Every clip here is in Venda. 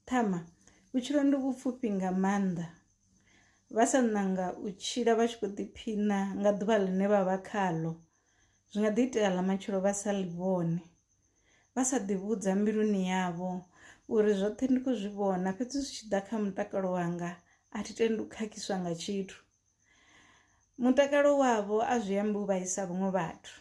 Ṱhama, Vhutshilo ndi vhupfufhi nga maanḓa. Vha sa ṋanga u tshila vha tshi khou ḓiphiṋa nga ḓuvha ḽine vha vha khaḽo, zwi nga ḓi itea ḽa matshelo vha sa ḽi vhone. Vha sa ḓivhudza mbiluni yavho uri zwoṱhe ndi khou zwi vhona fhedzi zwi tshi ḓa kha mutakalo wanga a thi tendi u khakhiswa nga tshithu. mutakalo wavho a zwi ambi u vhaisa vhaṅwe vhathu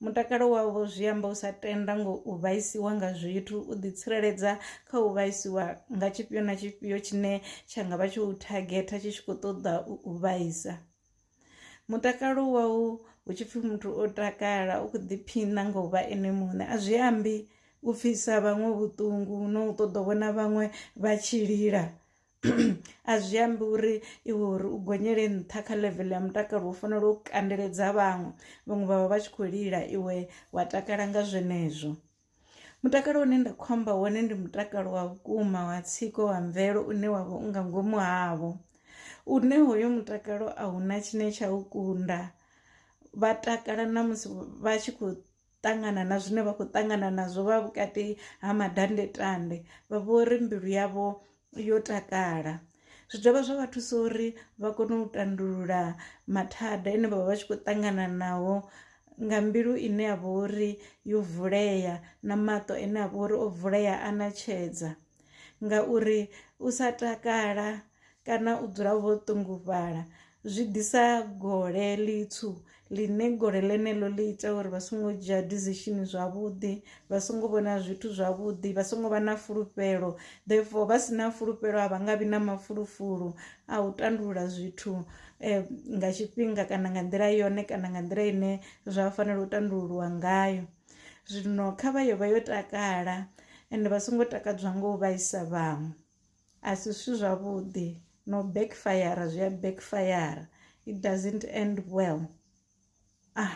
mutakalo wavho zwi amba u sa tenda ngo u vhaisiwa nga zwithu u ḓitsireledza kha u vhaisiwa nga tshifhio na tshifhio tshine tsha nga vha tsho u thagetha tshi tshi khou ṱoḓa u vhaisa mutakalo wau hu tshi pfhi muthu o takala u khou ḓiphiṋa nga u vha ene muṋe a zwi ambi u pfhisa vhaṅwe vhuṱungu no u ṱoḓa vhona vhaṅwe vha tshi lila a zwi ambi uri iwe uri u gonyele nṱha kha level ya mutakalo u fanela u kandeledza vhaṅwe vhaṅwe vhavha vha tshi khou lila iwe wa takala nga zwenezwo mutakalo une nda khou amba wone ndi mutakalo wa vhukuma wa tsiko wa mvelo une wa vha unga ngomu havho une hoyo mutakalo a huna tshine tsha u kunda vha takala na musi vha tshi khou ṱangana na zwine vha khou ṱangana nazwo vha vhukati ha madandetande vha vho ri mbilu yavho yo takala zwi dovha zwa vha thusa uri vha kone u tandulula mathada ane vha vha vha tshi khou ṱangana nawo nga mbilu ine ya vha uri yo vulea na maṱo ane a vha uri o vulea a na tshedza ngauri u sa takala kana u dzula vho ṱungufhala zwi ḓisa gole ḽitswu ḽine gole ḽeneḽo ḽi ita uri vha songo dzhia decision zwavhuḓi vha songo vhona zwithu zwavhuḓi vha songo vha na fulufhelo therefore vha si na fulufhelo a vha nga vhi na mafulufulu a u tandulula zwithu eh, nga tshifhinga kana nga nḓila yone kana nga nḓila ine zwa fanela u tandululwa ngayo Zwino kha vha yo vha yo takala ende vha songo takadzwa ngo u vhaisa vhaṅwe a si zwithu zwavhuḓi no backfire zwi a backfire it doesn't end well ah.